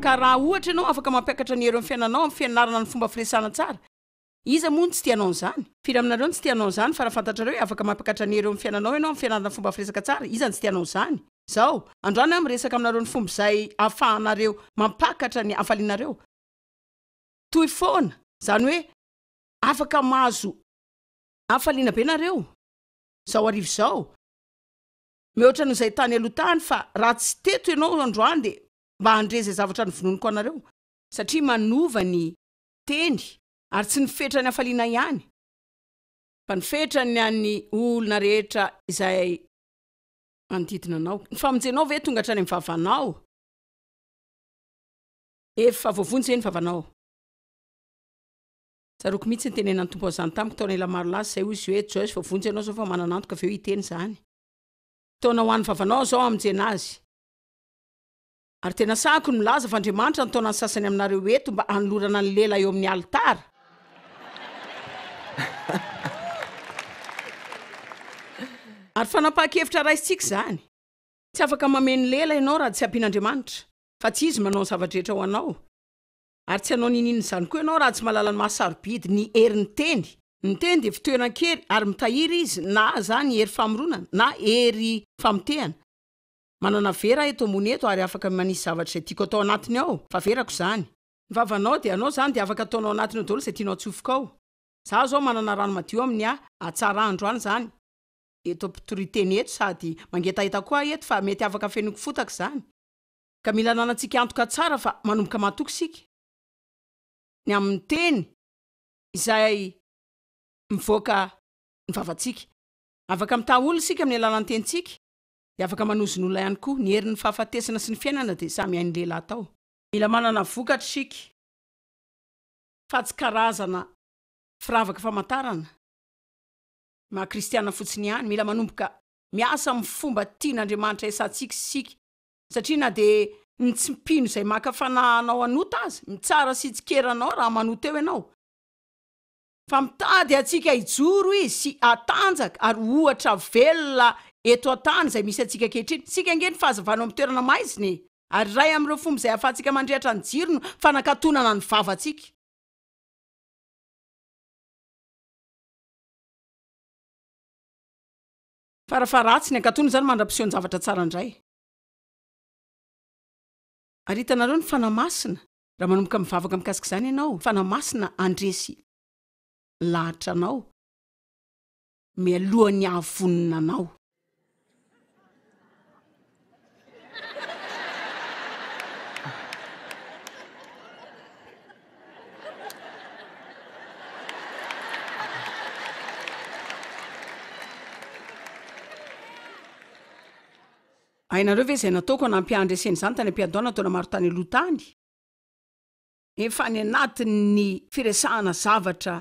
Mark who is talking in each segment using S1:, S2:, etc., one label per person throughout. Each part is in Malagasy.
S1: Ka raha ohatra ianao afaka mampiakatra ny hery amin'ny fiainanao amin'ny fianarana ny fomba firesahana tsara, iza moa no tsy te hanao an'izany? Firy aminareo no tsy te hanao an'izany? Fa raha fantatrareo hoe afaka mampiakatra ny hery eo amin'ny fiainanao ianao amin'ny fianarana ny fomba firesaka tsara, iza no tsy te hanao izany? Izao, androany aho miresaka aminareo ny fomba izay ahafahanareo mampakatra ny hafalianareo. toy foana. Izany hoe afaka mahazo hafaliana be nareo izao hariva izao, mihoatra noho izay tany aloha tany, fa raha tsy teto ianao androany dia mba handre izay zavatra novonoiniko anareo. Satria manova ny teny, ary tsy ny fetran'ny hafaliana ihany, fa ny fetran'ny an'ny olona rehetra izay manodidina anao. Ny famonjenao ve tonga hatrany amin'ny vavanao? Efa voavonjy ve ny vavanao? Tsaroako mihitsy ny tenenan'ny Tompo an'izany tamiko taona ela maro lasa izay, hoy izy hoe, Joyce, voavonjy ianao izao fa manana antoka avy eo hiteny izany. Taona ho an'ny vavanao aho izao hamonjena azy. Ary dia nasahiko ny milaza fa Andriamanitra nitaona ny sasany aminareo eto mba hanolorana ny lela eo amin'ny alitara. Ary fanapahan-kevitra raisintsika izany. Tsy afaka mameno lela ianao raha tsy ampian'Andriamanitra. fa tsy izy manao ny zava-drehetra ho anao. Ary tsy hanao niniana izany koa ianao raha tsy mahalala ny maha sarobidy ny herin'ny teny. Ny teny dia fitoeran-kery ary mitahiry izy na izany hery famoronana na hery famotehana. Manana vera aho eto ambony eto ary afaka manisy zavatra izay tiako atao anatiny ao, fa verako izany. Ny vavanao dia anao izany dia afaka ataonao anatiny ao daholo izay tianao atsofoka ao. Izaho izao manana rano madio amin'ny ha hatsara andro any izany. Eto mpitoriteny eto sady mangetaheta koa aho eto fa mety afaka afenoiko fotaka izany. ka mila ananantsika antoka tsara fa manomboka matoky isika ny amin'ny teny izay mivoaka ny vavantsika. Afaka mitaha olona isika amin'ny alalan'ny tenintsika, dia afaka manozona olona ihany koa. Ny herin'ny fahafatesana sy ny fiainana dia samy hain'ny lehilahy atao. Mila manana vokatra isika, fa tsy karazana firavaka famantarana maha kristiana fotsiny ihany. Mila manomboka miasa amin'ny fomba tian'Andriamanitra hiasantsika isika, satria na dia ny tsy mpino izay maka fanahy hanao an'ota aza, mitsara sy hitsikera anao raha manota eo ianao. Fa mitady antsika hijoro Izy sy hatanjaka ary ho ohatra velona eto an-tany izay misy antsika ankehitriny. Isika ange no fahazavana eo amin'ny toerana maizina e! Ary iray amin'ireo fomba izay ahafahantsika mandrehitra ny jiro no fanakatonana ny vavantsika. Fara fa ratsy ny ankatony izany mandra-piseho ny zavatra tsara indray. Ary hitanareo ny Fanahy Masina, raha manomboka mivavaka mikasika izany ianao, Fanahy Masina handresy lahatra anao mialohan'ny hahavonona anao. Hainareo ve izay nataoko hanampy ahy handresena izany tany am-piandohana taona maro tany aloha tany? Efa any anatin'ny firesahana zavatra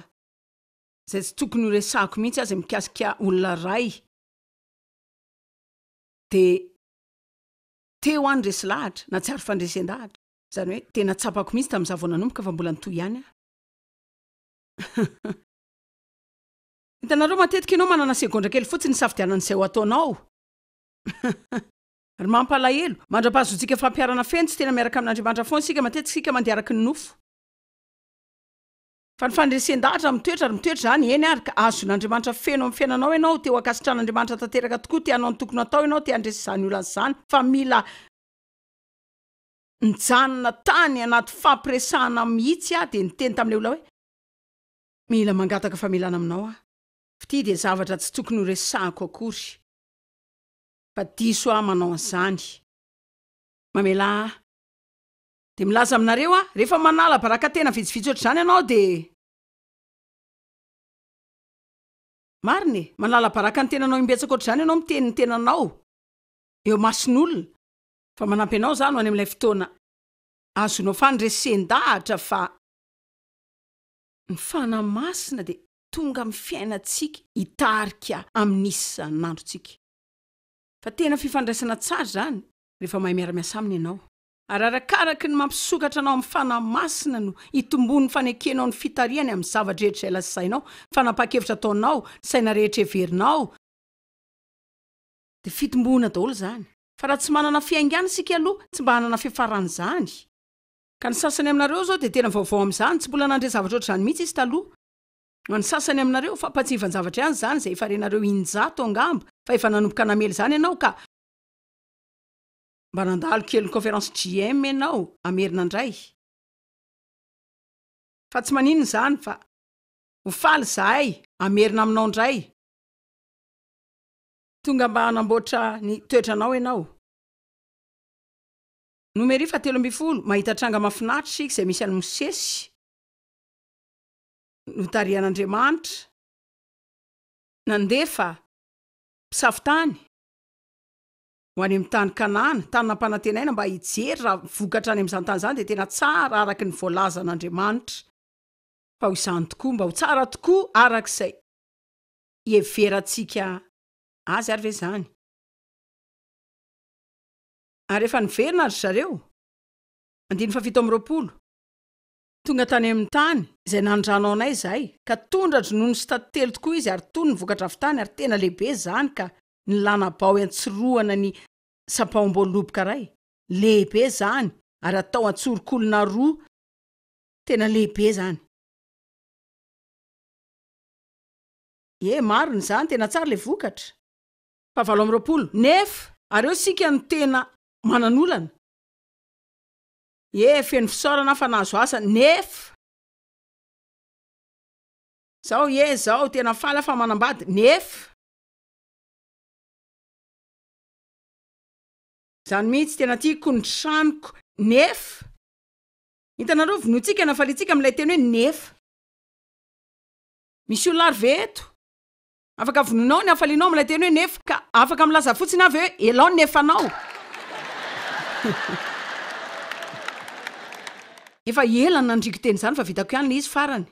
S1: izay tsy tokony horesahako mihitsy aza mikasika olona iray. dia teo aho niresy lahatra, na tsy ary fandresen-dahatra. Izany hoe, tena tsapako mihitsy tamin'izaho vao nanomboka fa mbola nitohy ihany aho. Hitanareo, matetika ianao manana segondra kely fotsiny hisafidianana izay ho ataonao. Ry mampalahelo, mandra-pahazontsika fampiharana feno tsy tena miaraka amin'Andriamanitra foana isika, matetika isika mandeha araka ny nofo. Fa ny fandresen-dahatra mitoetra ary mitoetra izany, eny ary ka azon'Andriamanitra feno amin'ny fiainanao ianao, te ho ankasitran'Andriamanitra tanteraka tokoa, te hanao ny tokony hatao ianao, te handresy izany olana izany, fa mila nijanona tany anaty fampiresahana mihitsy aho, dia niteny tamin'ilay olona hoe, Mila mangataka famelana aminao aho, f'ity dia zavatra tsy tokony horesahako akory, fa diso aho manao an'izany, mamelà ahy. Dia milaza aminareo aho, rehefa manala baraka tena vitsivitsy ohatr'izany ianao dia. Marina e! Manala baraka ny tenanao imbetsaka ohatr'izany ianao miteny ny tenanao eo imason'olona, fa manampy anao izaho ho any amin'ilay fotoana ahazoanao fandresen-dahatra fa ny Fanahy Masina dia tonga amin'ny fiainantsika hitarika amin'ny isan'androntsika. Fa tena fifandraisana tsara izany rehefa mahay miara-miasa aminy ianao. Ararakaraky ny mampisokatra anao amin'ny Fanahy Masina no hitomboan'ny fanekenao ny fitarihany amin'ny zava-drehetra izay lazainao, ny fanapahan-kevitra ataonao, ny saina rehetra heverinao, dia fitomboana daholo izany, fa raha tsy manana fiaingàna isika aloha tsy mba hanana fiafaran'izany. Ka ny sasany aminareo izao dia tena vaovao amin'izany, tsy mbola nandre zavatra ohatr'izany mihitsy izy taloha. Ho an'ny sasany aminareo, fampatsiavan-javatra ihany izany izay efa renareo in-jato angamba, fa efa nanomboka namely izany ianao ka, Mba nandalo kely ny conférence JM ianao à Merina ndray. Fa tsy maninona izany fa ho faly izahay à Merina aminao ndray. Tonga mba hanamboatra ny toetranao ianao. Numery faha telo ambin'ny folo, mahita tranga mahafinaritra isika izay misy an'i Mosesy notarihan'Andriamanitra nandefa mpisafo tany. ho any amin'ny tany Kanana, tany nampanantenaina mba hijery raha vokatra any amin'izany tany izany, dia tena tsara araka ny voalazan'Andriamanitra fa ho izany tokoa, mba ho tsara tokoa araka izay iheverantsika azy ary ve izany? Ary rehefa niverina ry zareo, andininy fahafito amby roapolo, tonga tany amin'ny tany izay nandranaonay izahay, ka tondra-dronono sy taty telo tokoa izy, ary tony ny vokatra avy tany, ary tena lehibe izany ka. ny lana-bao iantsirohana ny sampaom-boaloboka iray, lehibe izany ary atao an-tsorokolona roa, tena lehibe izany. Ie, marina izany, tena tsara ilay vokatra. Fahavalo amby roapolo, Nefa ary eo isika no tena manan'olana. Ie, feno fisaorana aho fa nahazo asa, nefa. Izao, ie, izao, tena faly aho fa manambady, nefa. Zany mihitsy tena tiako ny tranoko nefa. Hitanareo vonointsika na faliantsika amin'ilay teny hoe nefa. Misy olona ary ve eto? Afaka vonoinao ny hafalianao amin'ilay teny hoe nefa ka afaka milaza fotsiny aho ve hoe elao ny nefanao? Efa ela no nandriko teny izany fa vitako ihany ilay izy farany.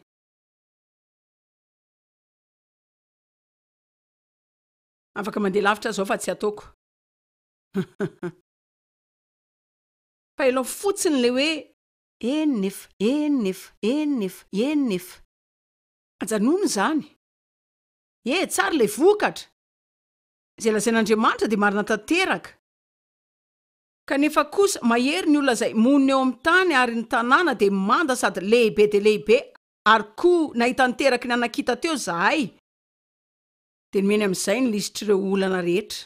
S1: Afaka mandeha lavitra aza aho fa tsy ataoko. Fa ilao fotsiny ilay hoe eny nefa, eny nefa, eny nefa, eny nefa. Ajanony izany. E, tsara ilay vokatra. Izay lazain'Andriamanitra dia marina tanteraka. Kanefa kosa, mahery ny olona izay monina eo amin'ny tany ary ny tanàna dia manda sady lehibe dia lehibe, ary koa nahita niteraky ny anakita teo izahay, Dia nomeny amin'izay ny lisitr'ireo olana rehetra.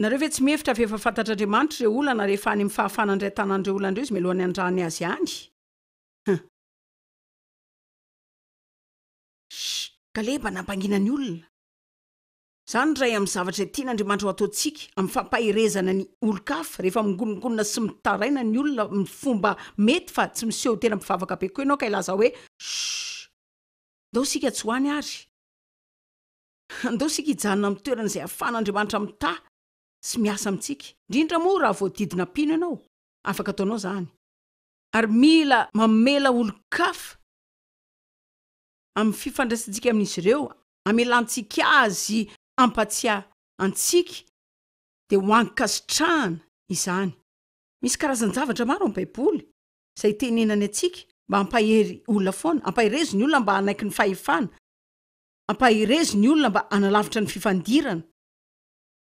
S1: Nareo ve tsy mihevitra fa efa fantatr'Andriamanitra ireo olana rehefa any amin'ny fahafahana indray tanan'ireo olana ireo Izy mialohan'ny handrany azy any? Huh! Shh! Kaleba nampangina ny olona. Izany iray amin'ny zavatra izay tian'Andriamanitra ho ataontsika, amin'ny fampaherezana ny olon-kafa, rehefa mingonongonona sy mitaraina ny olona amin'ny fomba mety fa tsy miseho ho tena mpivavaka be koa ianao ka hilaza hoe, Shh! Ndao isika tsy ho any ary. Ndao isika hijanona amin'ny toerana izay ahafahan'Andriamanitra mitaha sy miasa amintsika. Indrindra moa raha voadidina mpino ianao, afaka ataonao izany. Ary mila mamela olon-kafa amin'ny fifandraisantsika amin'izy ireo, amelantsika azy hampatsiahy antsika, dia ho ankasitrahana izany. Misy karazan-javatra maro amin'ny Baiboly izay tenenany antsika mba hampahery olona foana, hampaherezo ny olona mba hanaiky ny fahefana, hampaherezo ny olona mba hanalavitra ny fifandirana.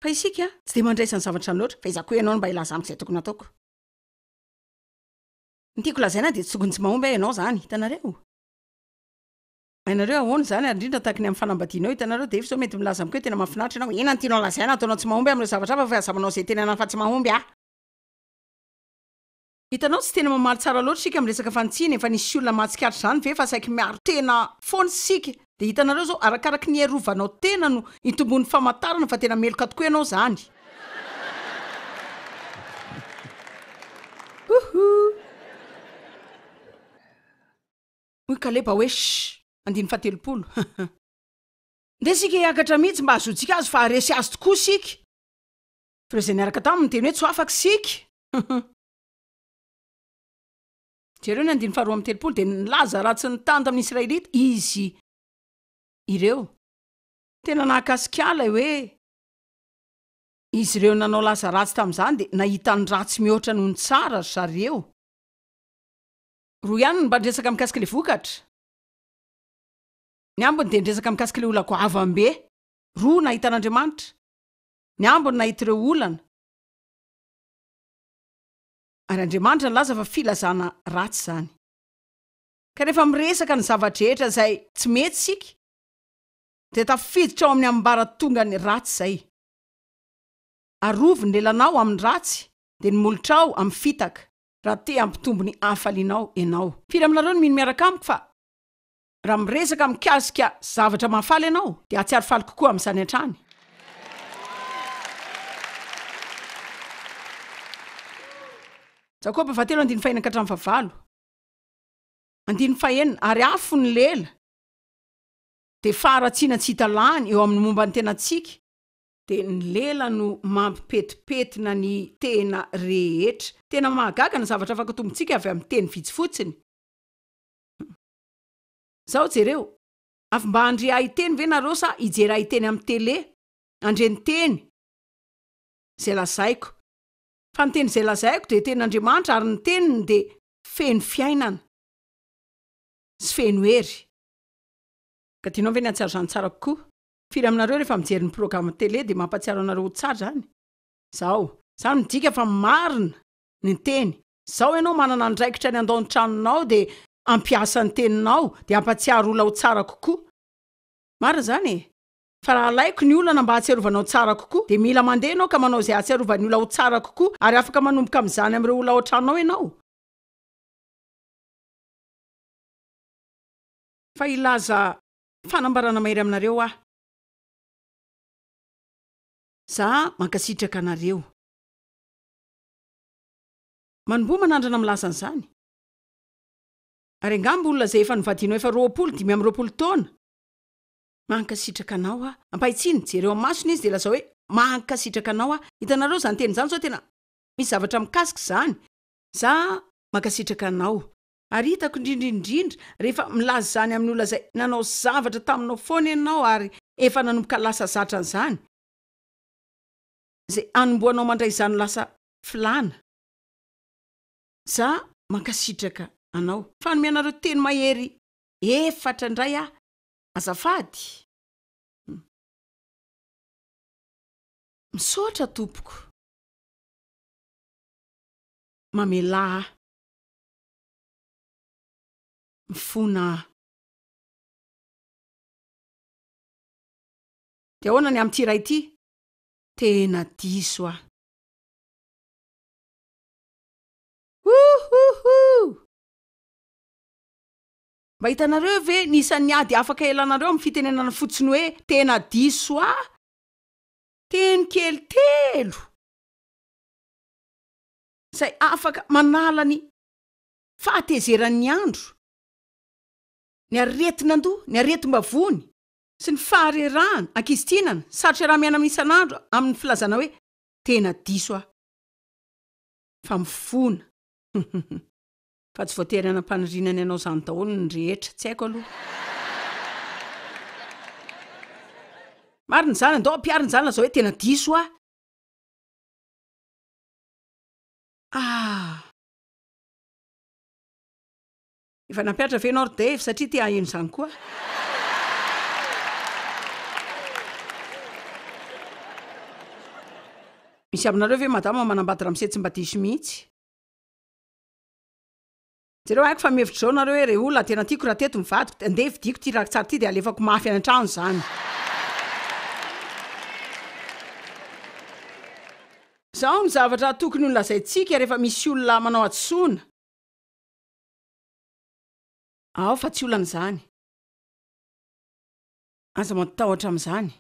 S1: Fa isika tsy dia mandraisa ny zavatra izany loatra, fahaizako hoe ianao no mba hilaza amiko izay tokony hataoko. Ny tiako lazaina dia tsy tokony tsy mahomby aho ianao izany, hitanareo. Hainareo ahoana izany, ary indrindra tahaka ny amin'ny fanambadianao, hitanareo, dia efa izao mety milaza amiko hoe tena mahafinaritra ianao, inona no tianao lazaina, ataonao tsy mahomby aho amin'ireo zavatra hafa fa aza manao izay tenenana fa tsy mahomby aho. Hitanao tsy tena mamaly tsara loatra isika amin'ny resaka fanitsiana e, fa nisy olona mahatsikaritra izany ve fa saiky miaro tena foana isika? Dia hitanareo izao, arakaraky ny hiarovanao tena no hitomboan'ny famantarana fa tena meloka tokoa ianao izany. Houhou! Hoy Kaleba hoe, Shh! Andininy fahatelopolo. Ndeha isika hiakatra mihitsy mba hahazoantsika azy fa haharesy azy tokoa isika. Fa ireo izay niaraka taminy niteny hoe, Tsy ho afaka isika! Huhum. Jereo ny andininy faharoa amby telopolo dia nilaza ratsy ny tany tamin'ny Israelita izy ireo. Tena nahakasika ahy ilay hoe izy ireo nanao lasa ratsy tamin'izany dia nahita ny ratsy mihoatra noho ny tsara ry zareo. Roa ihany no mba niresaka mikasika ilay vokatra. Ny ambiny dia niresaka mikasika ilay olona goavam-be roa nahita an'Andriamanitra. Ny ambiny nahita ireo olana. Ary Andriamanitra nilaza fa filazana ratsy izany. Ka rehefa miresaka ny zava-drehetra izay tsy mety isika, dia tafiditra ao amin'ny ambaratongan'ny ratsy izay. Arovy ny lelanao amin'ny ratsy, dia ny molotrao amin'ny fitaka, raha te hampitombo ny hafalianao ianao. Firy aminareo no mino miaraka amiko fa Raha miresaka mikasika zavatra mahafaly ianao dia hahatsiaro faly kokoa amin'izany hatrany. Jakoba fahatelo andininy fahena ka hatramin'ny fahavalo andininy fahenina ary afo ny lela dia faharatsiana tsy hita lany eo amin'ny momba ny tenantsika dia ny lela no mampipetipetina ny tena rehetra. Tena mahagaga ny zavatra afaka tombontsika avy amin'ny teny vitsy fotsiny. Zao jereo. Avy mba handre hahiteny ve nareo sa hijery hahiteny am tele? Handre ny teny Zay lazaiko. Fa ny teny Zay lazaiko dia teny Andriamanitra ary ny teniny dia feno fiainana sy feno hery. Ka tianao ve ny hahatsiaro izany tsara kokoa? Firy aminareo rehefa mijery ny program tele dia mampatsiaro anareo ho tsara izany? Zao. Izany midika fa marina ny teny. Zao ianao manana andraikitra ny handao ny tranonao dia ampiasa ny teninao dia ampatsiaro olona ho tsara kokoa. Marina izany e! Fa raha alaiko ny olana mba hahatsiarovanao tsara kokoa dia mila mandeha ianao ka manao izay hahatsiarovan'ny olona ho tsara kokoa ary afaka manomboka amin'izany amin'ireo olona ao an-tranonao ianao. Fa hilaza fanambarana mahery aminareo aho. Za mankasitraka anareo. Manomboha manandrana milaza an'izany. Ary angamba olona izay efa novadianao efa roapolo dimy amby roapolo taona. Mankasitraka anao aho. Ampahitsino, jereo amin'ny masony izy dia lazao hoe, Mankasitraka anao aho. Hitanareo izany teny izany sao tena misy zavatra mikasika izany. Za mankasitraka anao. Ary hitako indrindra indrindra rehefa milaza izany amin'ny olona izay nanao zavatra taminao foana ianao ary efa nanomboka lasa zatra an'izany. Izay anombohanao mandray izany ho lasa filana. Za mankasitraka anao. Fanome anareo teny mahery efatra ndray ah azafady. Misaotra tompoko mamelà ahy. Mifona aho. De ahoana ny amin'ity iray ity? Tena diso aho. Houhouhou! Mba hitanareo ve ny isan'ny ady afaka ialanareo amin'ny fitenenana fotsiny hoe tena diso ahy? Teny kely telo izay afaka manala ny fahatezeran'ny andro, ny aretin'andoha, ny aretim-bavony, sy ny faharerahana, ankizy tianana, sarotra raha miaina amin'ny isan'andro amin'ny filazana hoe tena diso aho fa mifona huhuhu fa tsy voatery hanam-paniriana ny hanao izany daholo ny rehetra, tsy haiko aloha. Marina izany, andao ampiharina izany lazao hoe tena diso aho. Ah. Efa nampiatra ve ianao ry Dave satria te haheno izany koa aho. Misy aminareo ve madama manambady ramose tsy mba diso mihitsy. Jereo haiko fa mihevitra izao nareo hoe re olona tena tiako raha teto ny vadiko dia ndeha vidiako ity rakitsary ity dia alefako mafy any antrano izany. Izao ny zavatra tokony ho lazaintsika rehefa misy olona manao hadisoana. Aho fa tsy olana izany. Aza matahotra amin'izany.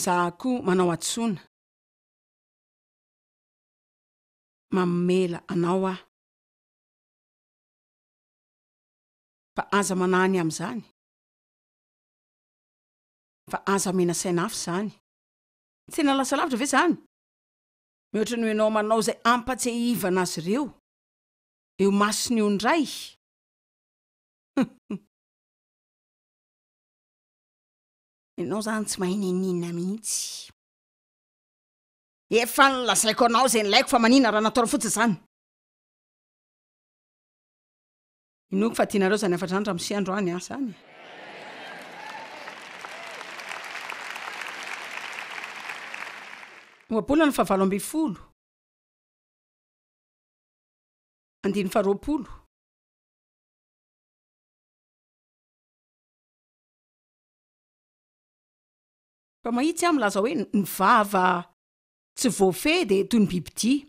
S1: Za koa manao hadisoana. Mamela anao aho. Fa aza manahy ny amin'izany. Fa aza menasaian'afo izany. Tena lasa lavitra ve izany? Mihoatra noho ianao manao izay hampatsiahivana azy ireo eo imason'ny ondray. Huhh. Ianao izany tsy mahay niniana mihitsy. Efa nolazaiko anao izay nilaiko fa manina raha nataonao fotsiny izany. Inoako fa tianareo izany hafatra izany ramose androany an, izany e. Ohabolana fahavalo ambin'ny folo, andininy faharoapolo. Fa mahitsy aho milaza hoe ny vava tsy voafehy dia toy ny bibidia.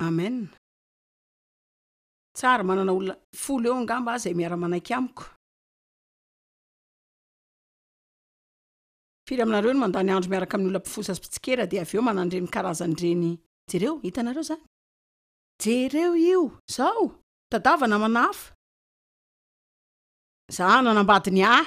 S1: Amen. Tsara, manana olona folo eo angamba aho izay miara-manaiky amiko. Firy aminareo no mandany andro miaraka amin'ny olona mpifosa sy mpitsikera dia avy eo manana an'ireny karazany ireny? Jereo, hitanareo izany? Jereo io! Izao! Tadava namana hafa! Izaho nanambady ny ahy,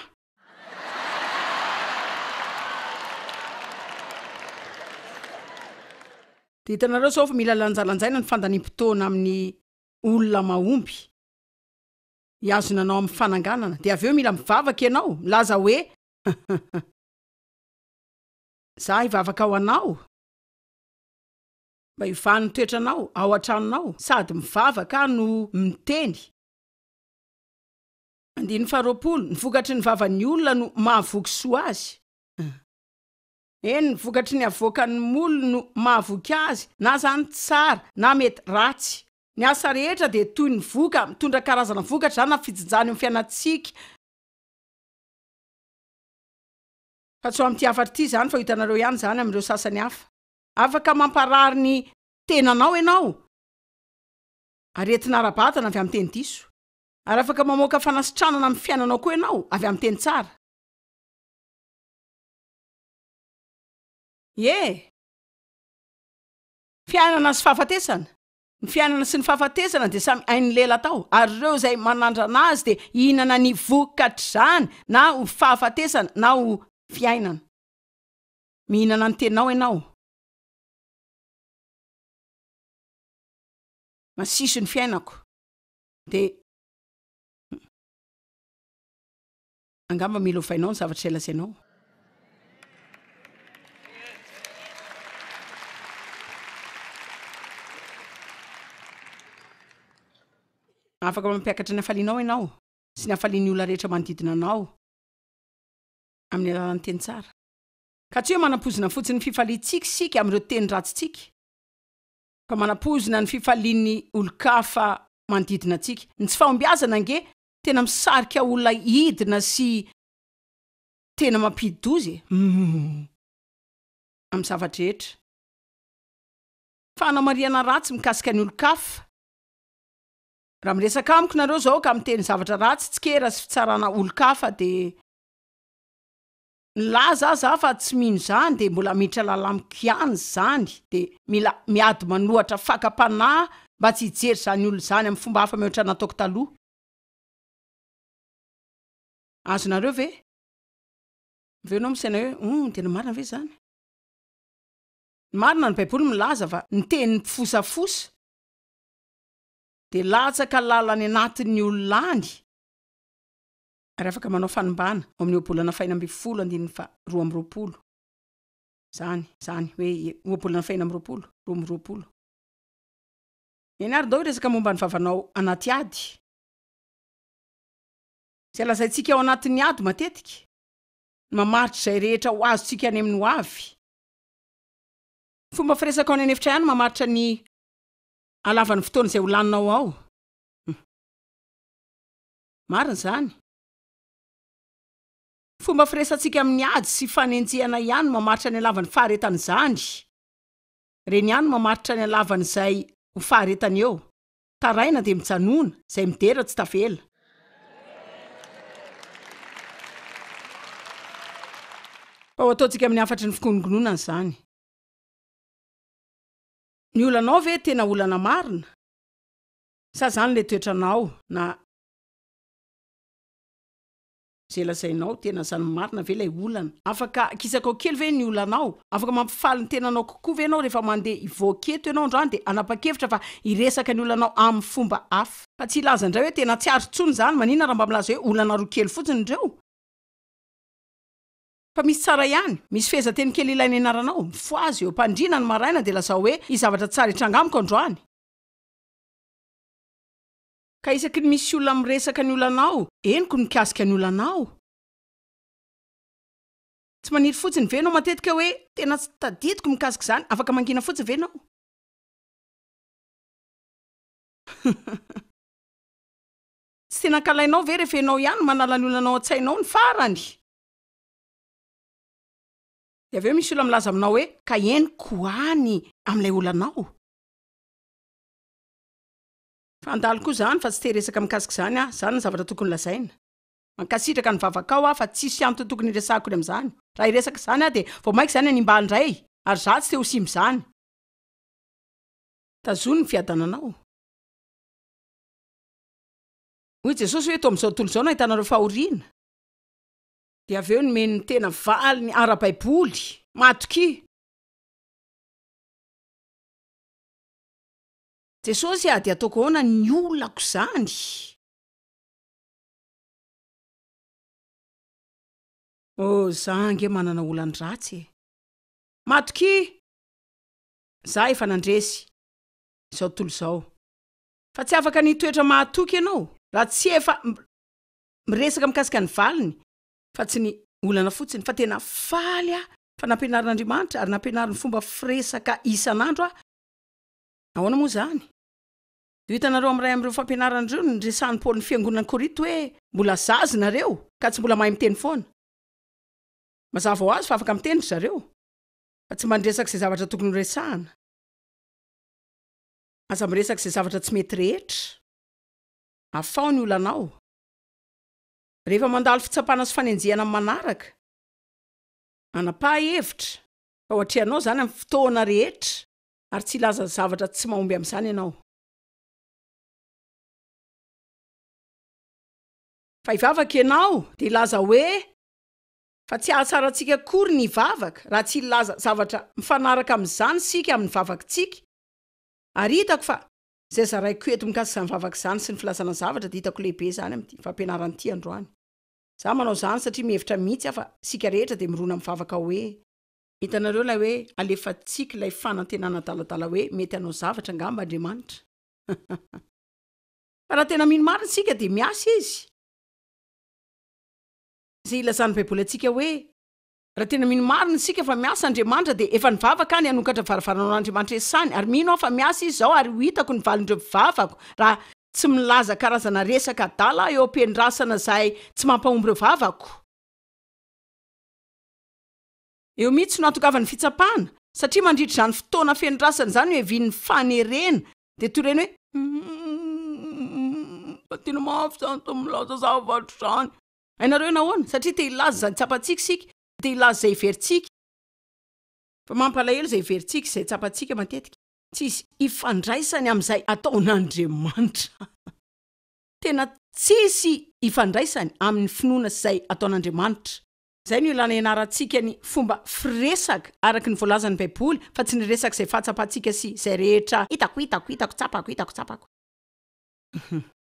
S1: Dia hitanareo izao fa mila lanjalanjaina ny fandaniam-potoana amin'ny olona mahomby hihazona anao amin'ny fananganana. Dia avy eo mila mivavaka ianao, milaza hoe, Izaho hivavaka ho anao mba hiovany ny toetranao ao an-tranonao, sady mivavaka aho no miteny. Andininy faharoapolo, Ny vokatry ny vavan'ny olona no mahavoky soa azy. Eny, ny vokatry ny avoakan'ny molony no mahavoky azy, na izany tsara na mety ratsy. Ny asa rehetra dia toy ny voka, mitondra karazana vokatra izany na fijinjana eo amin'ny fiainantsika. Fa tsy ho amin'ity hafatra ity izany, fa ho hitanareo ihany izany amin'ireo sasany hafa. Afaka mamparary ny tenanao ianao, ary entina ara-batana avy amin'ny teny diso. Ary afaka mamoaka fanasitranana amin'ny fiainanao koa ianao avy amin'ny teny tsara. Ie. Fiainana sy fahafatesana. Ny fiainana sy ny fahafatesana dia samy ain'ny lela tao, ary ireo izay manandrana azy dia hihinana ny vokatr'izany, na ho fahafatesana na ho fiainana. Mihinana ny teninao ianao. Masiso ny fiainako. Dia angamba mila ovainao ny zavatra izay lazainao. Afaka mampiakatra ny hafalianao ianao sy ny hafalian'ny olona rehetra manodidina anao amin'ny alalan'ny teny tsara. Ka tsy hoe manam-poizina fotsiny ny fifaliantsika isika amin'ireo teny ratsintsika, fa manapoizina ny fifalian'ny olon-kafa manodidina antsika. Ny tsy fahombiazana ange tena misarika olona hidina sy tena mampidi-doza e! Humm. Amin'ny zava-drehetra. Fanamarihana ratsy mikasika ny olon-kafa, Raha miresaka amiko nareo zao ka miteny zavatra ratsy tsikera sy fitsarana olon-kafa dia. Nilaza aza aho fa tsy mino izany dia mbola miditra lalamiko ihany izany dia mila miady manohatra fakam-panahy mba tsy hijery izany olona izany amin'ny fomba hafa mihoatra nataoko taloha. Azonareo ve? Avy eo ianao misaina hoe, Humm, tena marina ve izany? Ny marina, ny Baiboly milaza fa ny tenin'ny mpifosafosa dia latsaka lala any anatin'ny olona any. ary afaka manao fanimbàna ao amin'ny ohabolana fahena ambin'ny folo andininy faha roa amby roapolo izany, izany hoe ohabolana fahena amby roapolo, roa amby roapolo. Eny ary ndao hiresaka momba ny vavanao anaty ady, izay lazaintsika ao anatin'ny ady matetika, ny mamaritra izay rehetra ho azontsika any amin'ny hoavy. Ny fomba firesaka ao any an'efitra ihany no mamaritra ny halavan'ny fotoana izay ho laninao ao. Humm. Marina izany. Fomba firesatsika amin'ny ady sy fanenjehana ihany no mamaritra ny halavan'ny faharetana izany. Ireny ihany no mamaritra ny halavan'izay ho faharetany eo. Taraina dia mijanona, izay midera tsy tavela. Fa ho ataontsika amin'ny hafatry ny fikononkononana izany. Ny olanao ve tena olana marina? Sa zany le toetranao na. Ze lazainao tena zany marina ve lay olana? Afaka kisakao kely ve ny olanao? Afaka mampifaly ny tenanao kokoa ve enao refa mande hivoaka eto enao androany de hanapa-kevitra fa hiresaka ny olanao aminy fomba hafa? Fa tsy hilaza ndray hoe tena tsy ary tsony zany, manina ra mba milaza hoe olana roa kely fotsiny reo? Fa misy tsara ihany, misy fehezanteny kely ilaina ianaranao, mifohaza eo am-pandriana ny maraina de lazao hoe hisy zavatra tsara hitranga amiko androany, Ka isaky ny misy olona miresaka ny olanao, henoko ny mikasika ny olanao. Tsy maniry fotsiny ve ianao matetika hoe, Tena tsy tadidiko ny mikasika izany, afaka mangina fotsiny ve ianao? Tsy tena ankalainao ve rehefa ianao ihany no manala ny olanao an-tsainao ny farany? Dia avy eo misy olona milaza aminao hoe, Ka henoko ho any amin'ilay olanao. Fandalo koa zany fa tsy te resaka mikasika izany aho, zany ny zavatra tokony lazaina. Mankasitraka ny vavakao aho fa tsisy antony tokony hiresahako ny amin'izany. Raha hiresaka izany aho dia vao maika izany hanimba ahy indray ary za tsy te ho simba izany. Tazono ny fiadananao. Hoy Jesosy hoe toa amin'izao tontolo izao no ahitanareo fahoriana. Dia avy eo nomeny ny tena valiny ara-baiboly. Matokia. Jesosy ah dia ataoko ahoana ny olako izany? Oh za ange manana olan-dratsy e! Matokia! Za efa nandresy izao tontolo izao fa tsy afaka ny hitoetra mahatoky ianao raha tsy efa miresaka mikasika ny valiny fa tsy ny olana fotsiny fa tena faly aho fa nampianarin'Andriamanitra ary nampianariny fomba firesaka isan'andro aho, ahoana moa izany? Dia ho hitanareo amin'iray amin'ireo fampianarana ireo ny niresahan'i Paoly ny fiangonan'i Korinto hoe mbola zaza nareo ka tsy mbola mahay miteny foana. Mazava ho azy fa afaka miteny ry zareo fa tsy mba niresaka izay zavatra tokony horesahana. Aza miresaka izay zavatra tsy mety rehetra. Afaho ny olanao. Rehefa mandalo fitsapana sy fanenjehana manaraka, manapaha hevitra. Fa ho atrehanao izany amin'ny fotoana rehetra, ary tsy hilaza zavatra tsy mahomby amin'izany ianao. Fa hivavaka ianao, dia hilaza hoe, Fa tsy hahatsara antsika akory ny hivavaka, raha tsy hilaza zavatra mifanaraka amin'izany isika amin'ny vavakantsika, ary hitako fa Izay zaraiko eto mikasika izany vavaka izany sy ny filazana zavatra dia hitako lehibe izany amin'ity fampianarana ity androany. Izaho manao izany satria mihevitra mihitsy aho fa isika rehetra dia mirona amin'ny vavaka hoe. Hitanareo ilay hoe alefantsika ilay fanantenana adaladala hoe mety hanao zavatra angamba Andriamanitra. Fa raha tena mino marina isika dia miasa Izy. Izay ilazan'ny Baiboly antsika hoe Raha tena mino marina isika fa miasa Andriamanitra dia efa nivavaka aho ny hanokatra varavarana ho an'Andriamanitra iasany ary mino aho fa miasa Izy izao ary ho hitako ny valin'ireo mpivavako raha tsy milaza karazana resaka adala eo am-pendrasana izay tsy mampahomby ireo vavako. Eo mihitsy no ahatongavan'ny fitsapana satria mandritra izany fotoana fendrasana izany oevin'ny fanerena dia toreny hoe, Humm, fa tena mafy izany izao milaza zavatra izany. Hainareo nahoana? Satria te hilaza izay tsapantsika isika, te hilaza izay heverintsika. Fa mampalahelo izay heverintsika, izay tsapantsika matetika. Tsisy ifandraisany amin'izay ataon'Andriamanitra. Tena tsisy ifandraisany amin'ny finoana sy izay ataon'Andriamanitra. Izay no ilana ianarantsika ny fomba firesaka araka ny voalazan'ny Baiboly, fa tsy ny resaka izay fahatsapantsika sy izay rehetra hitako, hitako, hitako, tsapako, hitako, tsapako.